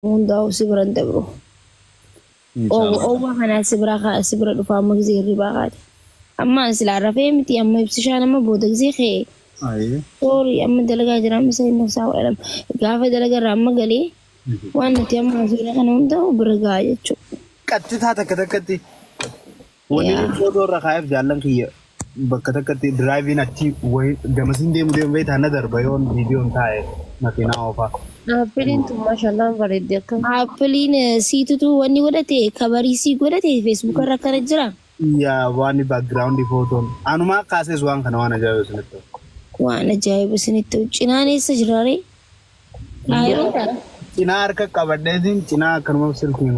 Hundaa'u si biran dabru. Oowwa kanaa si biraa kaa si bira dhufaa amma gisee hirribaa kaate. Amma silaa rafee miti amma ibsishaan amma booda gisee kee. Ayee. Soorii amma dalagaa jira amma sa'in nafsaa waadhama. Gaafa dalagaa irraa amma galee waan nuti amma haasofne kana hundaa'u bira gahaa jechuudha. Qaxxitaa takka takkatti. Wanni Yaa. footoo irra kaa'eef jaallan kiyya bakka takkatti diraayiviin achi wayii gamasiin deemu deemu beektaa na darba yoon viidiyoon taa'e makiinaa oofaa. Aappiliin tun maashaallaan bareeddi akka. Aappiliin eh, siitutu wanni godhate kabarii sii godhate feesbuuka irra akkana jira. Yaa waan baakgiraawundi footoon anumaa kaasees waan kana waan ajaa'iba isinitti. Waan ajaa'iba isinitti ta'u. Cinaan eessa jiraaree? Aayiroo dha. Cinaa harka qabadheetiin cinaa akkanuma silkiin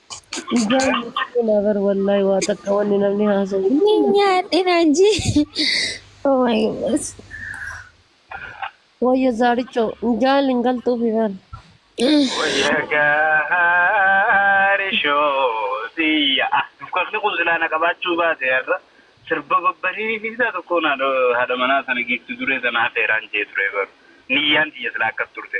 Ijaan nyaachuu naa bar wallaahi waa takka wanni namni haasa'u Ni hundi nyaadhe naan jee. Oh my goodness. wayya zaarichoo ijaan hin galtuufi bar. Wayya gaari shoosiyya. Ah, Dukakni kun silaa na qabaachuu baate har'a. Sirba babbareedaa tokko na haadha manaa sana giifti duree sana afeeraan jee ture garuu. Niyyaan tiyya silaa akkas turte.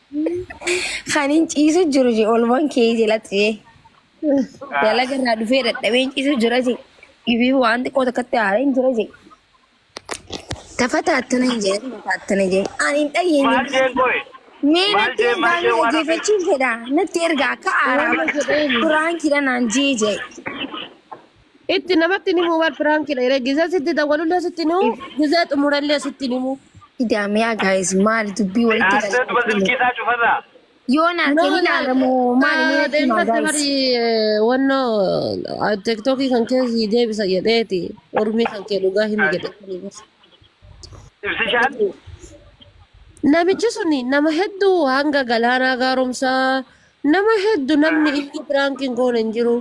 Kanin ciisu jiru je olman kee jalatti je. Dalaga irraa dhufee dadhabeen ciisu jira je. Ifiif waan xiqqoo takkatti haareen jira je. Tafata attana hin jedhe tafata attana je. Ani hin dhayyeenye. Maal jeen qoy? Mee Maal natti jeen maal ergaa jeen mee waan hafeef? dhaggeeffachuun fedha. Natti ergaa akka aaraama jedhee duraan kidha naan jee jee. Itti namatti ni muu bar piraankidha yeroo gizee sitti dawwalullee sitti ni muu gizee xumurallee sitti ni muu. Idaamiyaa gaayis maali dubbii walitti Naasee duba galchitanii. silkii isaa cufarraa. Yoo naasee ni ilaalamu maali mee natti himaa Deemfatte gaayis. bari wannoo tiktokii kan keessi deebisa jedheeti ormii kan kee dhugaa himi jedhe. Ibsishaan. Namichi suni nama hedduu hanga galaanaa gaaromsaa nama hedduu namni inni piraankiin goone hin jiru.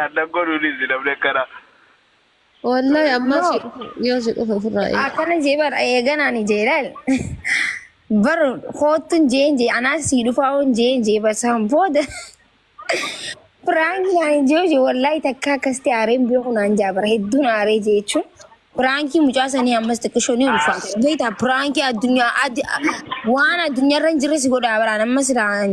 Annan godhuunis namni akkana. Wallahi ammaa si dhufu yoo si dhufe ofirraa eega. akkana jee bar eeganaan jee laal bar koottun jeen jee anaas sii dhufaa'uun jeen jee bar san booda piraankii naan jee jee wallaahi takka akkasitti aareen beeku naan jaa bar hedduun aaree jee jechuun piraankii mucaa sanii ammas xiqqishoo ni ulfaata beektaa piraankii addunyaa addi waan addunyaarra hin jirre si godhaa baraan ammas iraan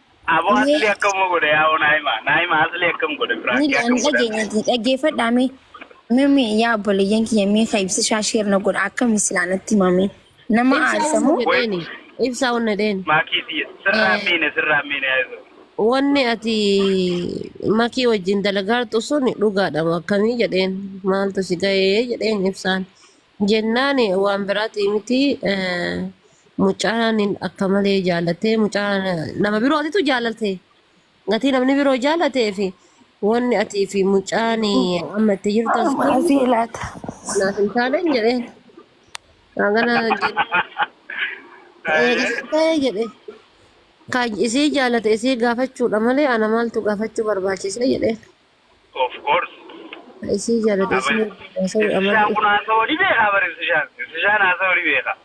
Abo Mee asli akkam godhe yaa naima naima asli akkam godhe ni prank dha- akkam ni godhe dhageenya naima. dhaggeeffadhaa mee mee mee yaa obboleeyyan kiyya mee ka ibsishaa sheer na godha akkami silaa natti himame nama Ibsaa aarsa wanna moo Wait jedheeni. Ibsaa wanna jedheen. maakii siya sirraa Eh, miine sirraa miine yaa isa. Wanni ati makii wajjin dalagaartu sun dhugaadha moo akkamii jedheen maaltu si ga'ee jedheen ibsaan. Jennaan waan biraati miti eh, Mucaan akka malee jaalatee mucaan nama birootitu jaalatee gatii namni biroo jaalatee fi wanni atii fi mucaan amma itti jirtan sun Amma asii laata. naaf hin taane jedhee hangana eegisitee jedhee kan isii jaalate isii gaafachuudha malee ana maaltu gaafachuu barbaachise jedhee. Of course. Ka isii jaalatu isii Abaris. wajjin haasa'u Ibsishaan amala kun haasawuu ni beekaa bar ibsishaan. Ibsishaan haasawuu ni beekaa.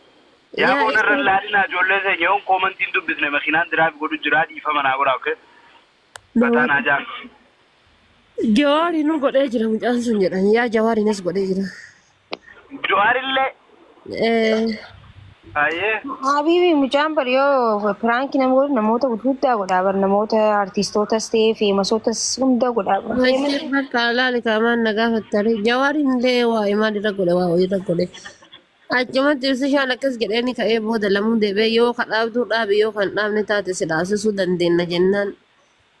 Yaa yaa booda irra hin isii laalinaa ijoollee seenya yoon koomantii hin dubbisne makiinaan diraavi godhu jiraa dhiifama naa godhaa okay. Fataa naa jaan. Jawaari nu godhee jira mucaan sun jedhan yaa jawaari nas godhee jira. Jawaarillee. Haayee. Habibi mucaan bar yoo piraanki nama godhu namoota guddaa godhaa bar namoota artiistootas ta'ee feemasotas hunda godhaa bar. Maisir bakka alaali kaamaan na gaafattare. Jawaariin illee waa imaan irra godhe waa irra godhe. Achumatti ibsishaan akkas jedhee ni ka'ee booda lamuu deebi'ee yoo ka dhaabduu dhaabi yoo kan dhaabne taate si dhaabsisuu dandeenya jennaan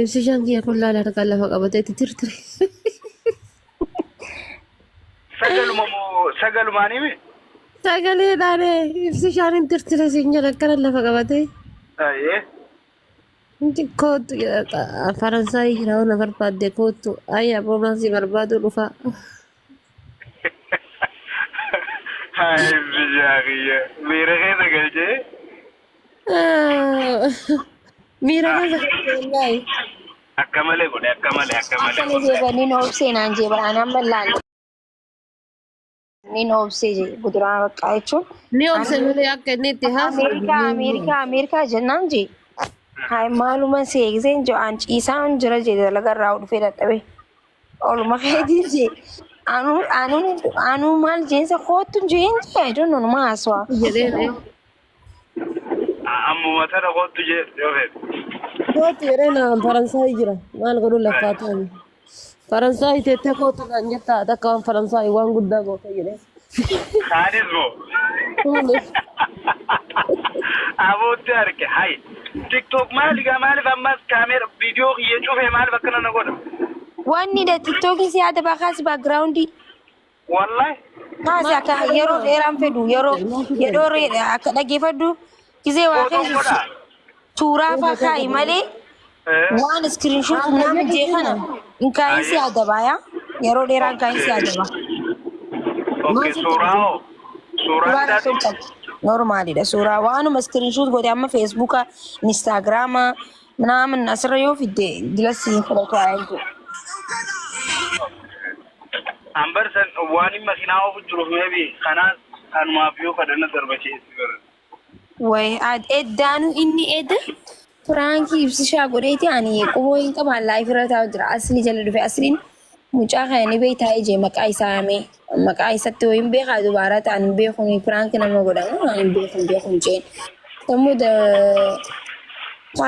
Ibsishaan kiyya kun laala harkaan lafa qabatee itti tirtire. Sagaluma moo sagalumaan himi? Sagalee dhaane ibsishaan hin tirtire siin jedha akkana lafa qabatee. Ayyee. Inti kootu jedha Faransaayii jira waan barbaadde kootu ayyaa roomansii barbaaduu dhufaa. Hai biyyaa kiyya miira keessa galchee Miira keessa galchee wallaahi. akka malee godhe akka malee akka malee Akkana godhe. jee baniin obsee naan jee bara anaan mallaale. Niin obsee jee guduraa baqqaa jechuun. Ni obse malee akka inni itti haasa'u. Ameerikaa Ameerikaa Ameerikaa jennaan jee. Hai maaluma seekseen jee aan ciisaan jira jee dalagarraa dhufee dadhabee. Oluma keetiin jee. Anuu anuu anuu maal jeensa koottu jeen jee I don't know numa haasawaa. Jedhee ta'e. Ammuma tana kottu jee yoo feete. Kootu jedhee naan Faransaay jira. Maal godhu laffaa ta'ani. Faransaay teettee kootu naan jettaa takka waan Faransaay waan guddaa goota jedhee. Kaanis moo. Kaanis. Abootti arge hay. TikTok maali gaa maaliif ammas kaameera viidiyoo kiyya cufee maaliif akkana na godha? Wanni da tiktookii si yaada baakaas baakgiraawundii. Wallahi. Kaasi akka yeroo dheeraan fedhu yeroo yeroo akka dhageeffadhu Gizee waa Footoo keessa godhaa. suuraa faa kaa'i malee Eh, waan iskiriinshoot humnaa mijee kana hin kaa'in si adabaa yaa. Yeroo dheeraa hin kaa'in si adabaa. ok, suuraa hoo? Suuraa Suuraa isaati? hin qabu. Normaalidha suuraa waanuma iskiriinshoot godhe amma feesbuuka, inistaagiraama, minaamin asirra yoo fidde gilassi hin fudhatu haa eegu. Ambarsan waan hin makinaa ofu jiruuf meebi kanaas kanumaaf yoo kadhanna darbachiisi bara. Way ad eddaanu inni ed piraankii ibsishaa godheeti ani quboo hin qabaan laayif irra taa'u jira asli jala dhufe asliin mucaa kana ni beektaa ijee maqaa isaa yaamee maqaa isatti wayin beekaa dubaara ta'an hin beekun piraanki nama godhamu waan hin beekun beekun jeen sammuu da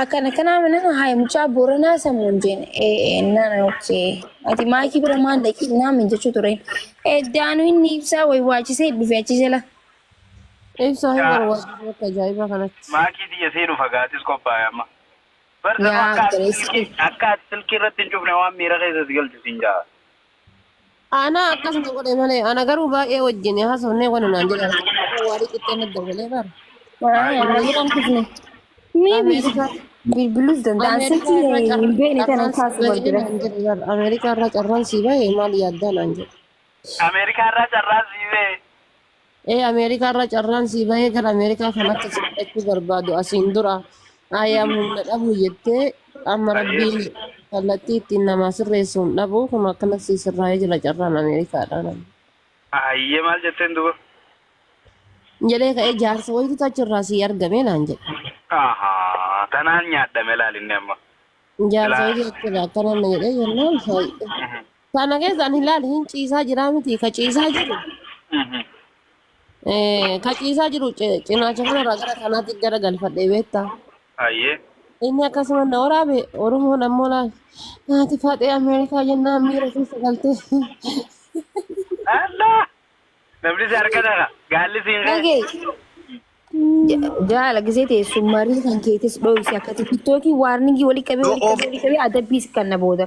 akkana kanaa mana haay mucaa booranaa sammuun jeen ee nana okkee ati maakii bira maan dhaqii naam hin jechuu tureen eddaanu inni ibsaa way waachisee dhufe achi jala. Ibsaa hin Yaa barbaadu akka ajaa'ibaa kanatti. maakii tiyya seenu fagaatis qophaa'e amma. Bar sanu Yaa akka ati obboleessa silkii kiyya. akka ati silkii irratti hin cufne waan miira keessa si galchu siin ja'a. Ana akkas na godhe malee ana garuu baay'ee wajjin haasofnee wani naan jedha. Yeroo waarii qixxee na dawwalee bara. Haa, Maayii. na jiran kufne. Mee Ameerikaa bilbiluus danda'an Ameerikaa silkii irraa hin carraan beekne kana carraan sii kaasu bahee barbaada. naan jedhe bara. Ameerikaa irraa carraan sii bahee maal yaaddaa naan jedhe. Ameerikaa irraa carraan sii ba'e. Ee Ameerikaa irra carraan sii bahee gara Ameerikaa kan akka si fudhachuu barbaadu asiin dura ayyaam humna dhabu jettee amma rabbiin kallattii ittiin namaa sirreessuun dhabu kun akkana sii sirraa'ee jira carraan Ameerikaadhaan. Ayyee maal jetteen duba? Jedhee ka'ee jaarsa wayitu achirraa sii argame naan jedhe. Ahaa tanaan nyaadhame laalinni amma. Jaarsa Ilaa- wayitu achirraa akkana na jedhee jennaan Kana keessaan hin laali hin ciisaa jiraa miti ka ciisaa jiru Mhm. eh, ka ciisaa jiru ci- cinaacha kanarraa gara kanaatti gara galfadhee beekta. Hayyee. Inni akkasuma na waraabe Oromoon ammoo laal naati faaxee Ameerikaa jennaan miira keessa galtee. Allaa! Namni si harka ta'a. Gaalli siin ka'e. Dhagee jaala gisee teessuun marii kan keetis dhoofsi akkati tiktookiin waarningii walitti qabee walitti qabee walitti qabee adabbiis kan na booda.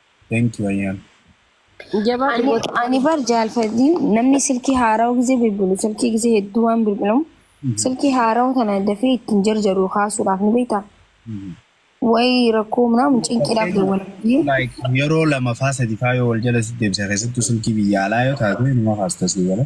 Thank you Ayyaan. Jabaa Ani, dhugoota. ani bar jaalfadhiin namni silkii haarawa gisee bilbilu silkii gisee hedduu waan bilbilamu silkii haarawa tana dafee ittiin jarjaru kaasuudhaaf ni beektaa wayi rakkoo minaamu cinqiidhaaf dawwala biyyee Like yeroo lama faa sadi faa yoo wal jala si deebisa keessattuu silkii biyya alaa yoo taate numa kaasta sii gala.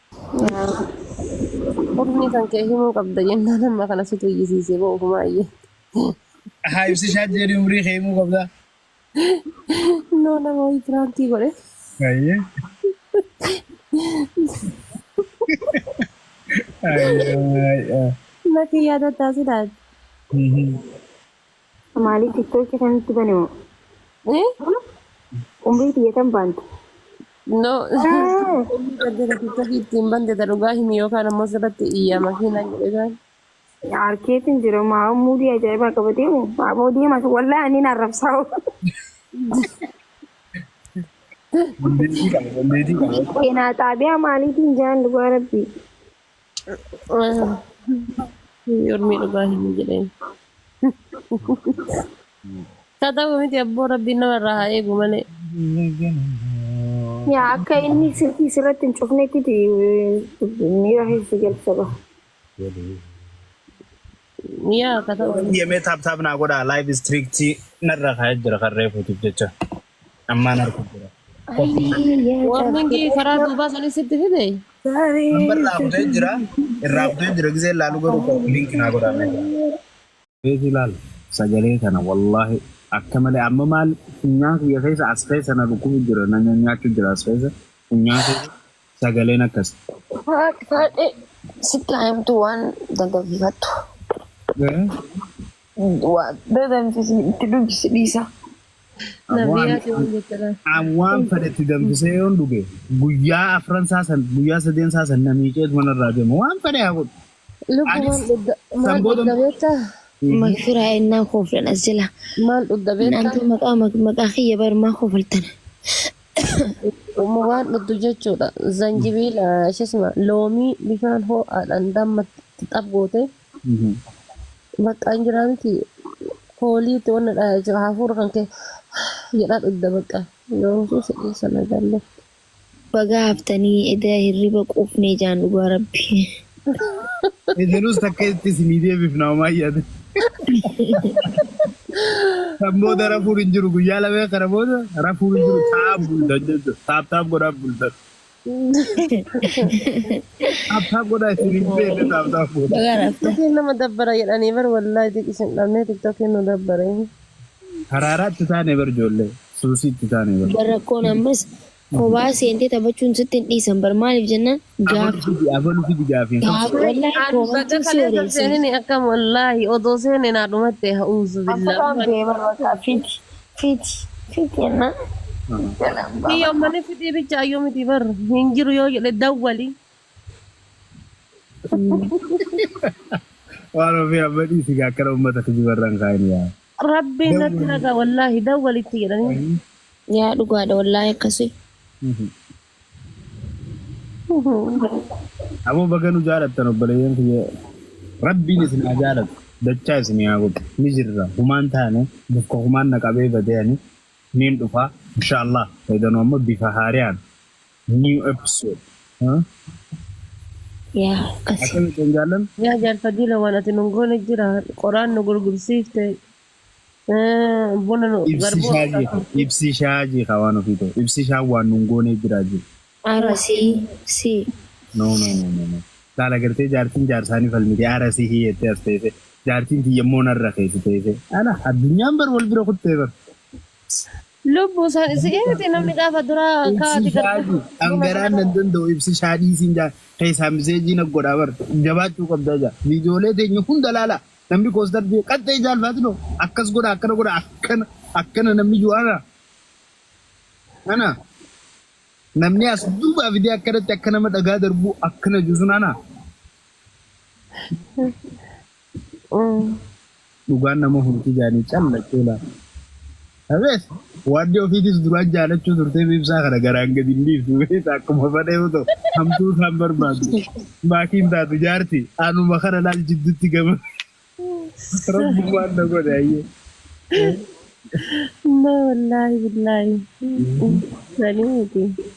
Hurmii kan kee himuu qabda jennaan amma kana situ iyyisiisee boo ofumaa iyyee. Haa ibsishaa jedhi umrii kee himuu qabda. Noo nama wayii piraankii godhe. Ayyee. Ayyee. Lakki yaada taasisaa. Mhm. Maalii tiktookii kan itti bane moo? Eh? Umrii tiyya tan baante. No. Gaddina tiktookii ittiin bante ta dhugaa himi yookaan ammoo sirratti iyyaa makiinaan jedhe taan. Harkeetiin jira maa muudii ajaa'ibaa qabatee moo? Aboo deemas wallaa ani na arrabsaa. Dandeettii qaba, dandeettii qaba. Seenaa xaabiyaa maaliitiin jaan dhugaa rabbii. Yormii dhugaa hin jedheen. Haa ta'u miti abboo rabbiin nama irraa haa eegu malee. Yaa akka inni silkii sirratti hin cufnetti miira keessa galcha ba'a. Yaa akka ta'u. Yemee taap taap naa godhaa live strict narra kaa'ee jira kan reefuutiif jecha. Ammaan arku jira. Koppii Ayii yaa Warningii karaa cabbireeyyoo duubaa sanii sitti fide. nambar irraa kutee jira. Irraa kutee jira gisee laalu garuu ko linki naa godhaa mee jira. gaariin. Beeku ilaal sagalee kana wallahi akka malee amma maal funyaan kiyya keessa as keessa na dhukkubu jira na nyanyaachu jira as keessa funyaan keessa sagaleen akkasi. Haati haadhe sitti haa himtu waan dandafiifattu. Waa danfisi itti dubbisi dhiisa. Nabiyaati waan jettadha. An waan fedhetti danfisee yoon dhuge guyyaa afran isaa san guyyaa sadeen isaa san na miiceet manarraa deema waan fedhe haa godhu. Lubbu maal Anis dhugda san maal booda dhugda beektaa? Magfiraa ennaan kooflan as jala. Maal dhugda beektaa? Naantu maqaa mag- maqaa kiyya bar maa koofaltan. Uma waan dhugdu jechuudha. Zanjibiila shisma loomii bishaan hoo'aadhaan damma itti xab gootee bakka hin jiraa miti kooliitti wanna dhaa jechuudha hafuura kan kee jedhaa dhugda bakka. Yoomsuu si dhiisa nagaan lafti. Bagaa haftanii eda hirriba quufnee jaan dhugaa rabbii. Ejenus takka itti isinii deebifna homaa yaada. Kan booda rafuun hin jiru guyyaa lamee kana booda rafuun hin jiru taa'aa bultan jechuudha. Taap taap godhaa bultan. Taap taap godhaa isin hin beekne taap taap godhaa. Bagaa rafta. Tiktokiin nama dabbara jedhanii bar wallaahi tik isin dhabnee tiktokiin nu dabbare. Haraaraatti taane bar ijoollee. Suusiitti taane bar. Bar rakkoon ammas kophaa seentee taphachuun sitti hin dhiisan bar maaliif jennaan Abalu gaaf fidi abalu fidi gaafiin kun. gaaf Wallaahi wallaahi an koomantiin baga si kaleessa wareersiisa. seenini akkam wallaahi odoo seene naa dhumatte ha'uuzu billaa. Afataan bee bar bakka fiti fiti fiti jennaan jalaan Kiyya baafata. ummani fidii bicha ayyuu miti bar hin jiru yoo jedhe dawwali. Waan ofii amma dhiisi gaa akkana uummata kijibarra hin kaa'in yaa. Rabbiin natti Dawwali. raga wallaahi dawwali itti jedhanii. Yaa dhugaadha wallaahi akkasii. Aboo baga nu jaalattan obboleeyyan kiyya. Rabbiin isin haa jaalatu. Dachaa isin haa godhu. Ni jirra. Humaan taane bakka humaan na qabee badee ani niin dhufa. Inshaallah. Eeganoo amma bifa haariyaan New episode. Huh? Yaa akkasi. Akkami kan jaallan? Yaa jaarfadii la waan ati nun goone jira qoraan nu gurgursiifte eh, buna nu Ibsi garbuu shaa jee. qabsiifte. Ibsi shaa jee kaa waan ofii ta'u. Ibsi shaa waan nun goonee jiraa jee. Ara si si No no no no no. Laala gartee jaartiin jaarsaanii falmite aara si hiyyettee as teesse. Jaartiin tiyya immoo narra keessa teesse. Ala addunyaan bar wal bira kuttee bar. Lubbu sa si Lubbu miti namni isaa gaafa duraa akka ati ibsishaa gargar fi dhuma dhangaraan sana nan danda'u ibsishaa dhiisiin jaa keessaa miseejii na godhaa bar jabaachuu qabdaa jaa viidiyoolee teenya hunda laala namni koostar jee qaxxee jaalfaatinoo akkas godha akkana godha akkana akkana namni juu ana ana namni as duubaa fidee akkanatti akka nama dhagaa darbuu akkana juu sun ana Dhugaan nama hurti jaanii calla chola Abeet waaddi ofiitis duraan jaalachuu turtee mee ibsaa kana garaan gadi hin dhiiftu beekta akkuma fadha yoo ta'u hamtuu isaan barbaadu maatii hin taatu jaarti anuma kana laal jiddutti gama rabbumaan na godhe ayyee. Amma wallaahi billaahi sanii miti.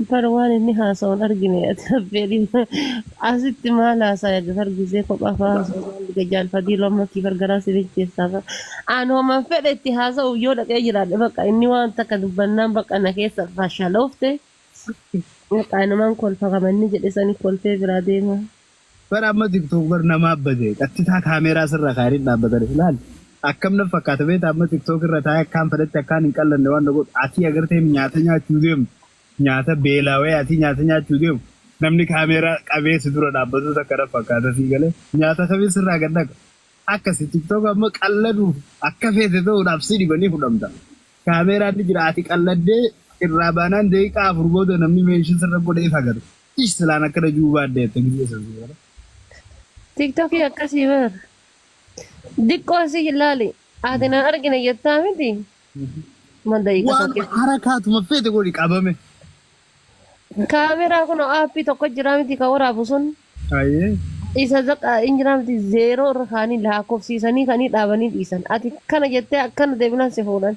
Jafar waan inni haasa'u hin argine ati affeerii asitti maal haasaya Jafar gizee kophaa fa'aa haasa'u maal dhiga jaal fadiiloo amma kiifar garaa si bilcheessaa fa'aa aan homan fedhe itti haasa'uuf yoo dhaqee jiraadhe baqa inni waan takka dubbannaan baqa na keessa fashaloofte baqa anumaan kolfa kama inni jedhe sani kolfee biraa deema. Bar amma tiktok bar namaa bade qattitaa kaameeraa sirra kaayanii dhaabbatani laal akkam naf fakkaata beektaa amma tiktok irra taa'ee akkaan fedhetti akkaan hin qallanne waan na godhu atii agartee hin nyaata nyaachuu deemtu nyaata beelaawee atii nyaata nyaachuu deemu namni kaameeraa qabee si dura dhaabbatuu takka naf fakkaata sii galee nyaata kamiin sirraa gad dhaqa akkasi tiktok amma qalladuuf akka feete ta'uudhaaf si dhiba ni fudhamta kaameeraan ni jira ati qalladdee irraa baanaan daqiiqaa afur booda namni meenshin sirra godhe if agarta. Ish salaan akkana juu baadde akka gizee san siifata. Tiktokii akkasii bar. Diqqoo si ilaali. Ati na argina jettaa miti. Mal daqiiqa Waan saddeet. harakaatuma feete godhi qabame. Kaameraa kun aappii tokko jira miti kan waraabu sun. Hayyee. Isa zaqa hin jira miti zeeroo irra kaanii lakkoofsiisanii kanii dhaabanii dhiisan. Ati kana jettee akkana deebinaan si fuudhan.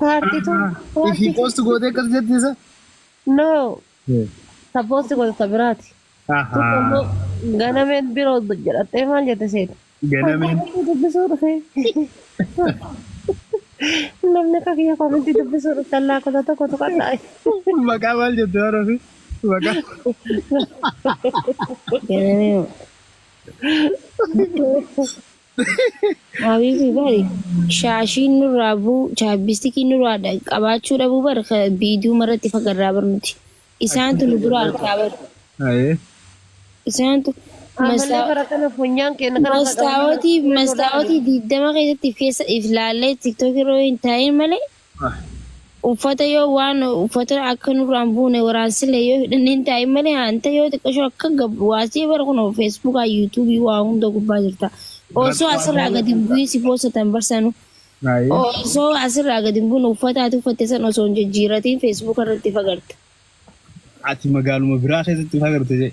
Paartii tun Aha. Ifi paartii post gootee akkas jetti isa. no Eh. sabboosti goota isa biraati. Tun Aha. ammoo ganameen biroo jedhattee maal jette seeta? Ganameen. Komentii dubbisuu dhufe. Namni akka kiyya komentii dubbisuu dhuftan laakota tokko tuqadhaa. Maqaa maal jette waan ofii? Maqaa. Ganamee. Habibi bari shaashiin nurraa buu chaabbistikiin nurraa dha- qabaachuu dhabuu bar ka biiduu maratti fagarraa bar nuti. Isaantu Achitti nu dura agarree arkaa bar. Ayee. Isaantu Amallee mastaa bara kana funyaan keenya kana akka qabannee mastaawotii filannoodhaa mastaawotii eegna. digdama keessatti keessa if laallee tiktookii irra yoo hin taa'in malee Ah. Uffata yoo waan uffata akka nurraa hin buune waraansillee yoo hidhanne hin taa'in malee hanta yoo xiqqasho akka gab waasii bara kun Facebook YouTube waa hunda gubbaa jirta. Osoo asirraa gadi hin bu'in si poosatan barsanu. Ayi. Osoo asirraa gadi hin bu'in uffata ati uffatte san osoo hin jijjiiratiin Facebook irratti fagarta. Ati magaaluma biraa keessatti fagarte jee.